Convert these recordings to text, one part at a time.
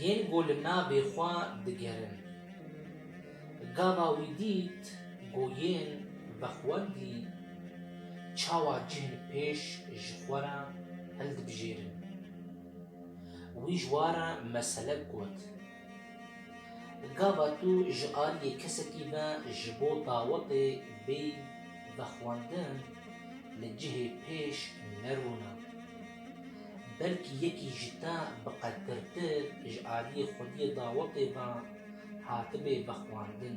Yên ku li navê xwe digerin. Gava wî dît ku yên vexwendî çawa cihên pêş ji xwe re hildibijêrin. Wî ji wan re meselek got. Gava tu ji aliyê kesekî ve ji bo dawetê bêyî vexwendin li cihê pêş nerûne. Belkî yekî ji te bi qedtirtir ji aliyê xwediyê dawetê ve hatibê vexwendin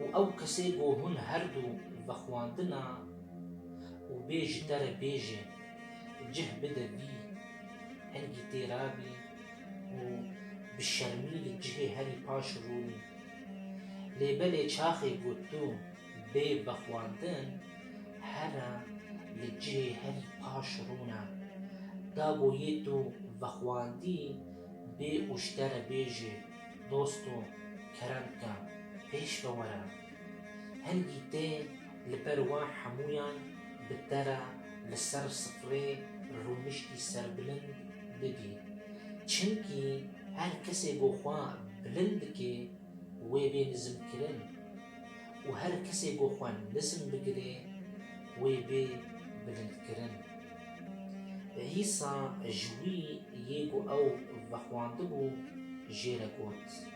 û ew kesê ku hûn her du vexwendine û bê ji te re bêjê, cih bide bî, hingî tê ra bî û bi şermî li cihê herî paş rûnî. Lê belê çaxê ku tu bê vexwandin here li cihê herî paş rûne. Da ku yê tu vexwandî bê û ji te re bêjê, Dosto, kerem bike, pêş ve were. Hingî tê Li ber wan hemûyan bi te re li ser sifrê rûniştî serbilind bibî. Çimkî her kesê ku xwe bilind dike wê bê nizmkirin û her kesê ku xwe nizm bigire wê bê bilindkirin. Îsa ji wî yê ku ew vexwandibû jê re got.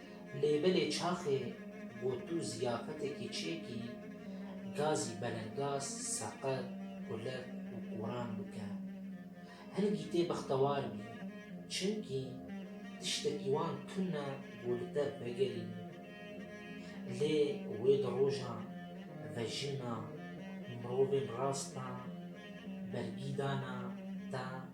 Lêbelê çaxê gotû ziyafetekî çêkî, gazî belengaz, seqet, kulek û koran bike. Hin gîtê bextewar bî, çimkî tiştekî wan tune ku li te vegerîn. Lê wê di rojan ve jina mirovên rastan bergî dana te.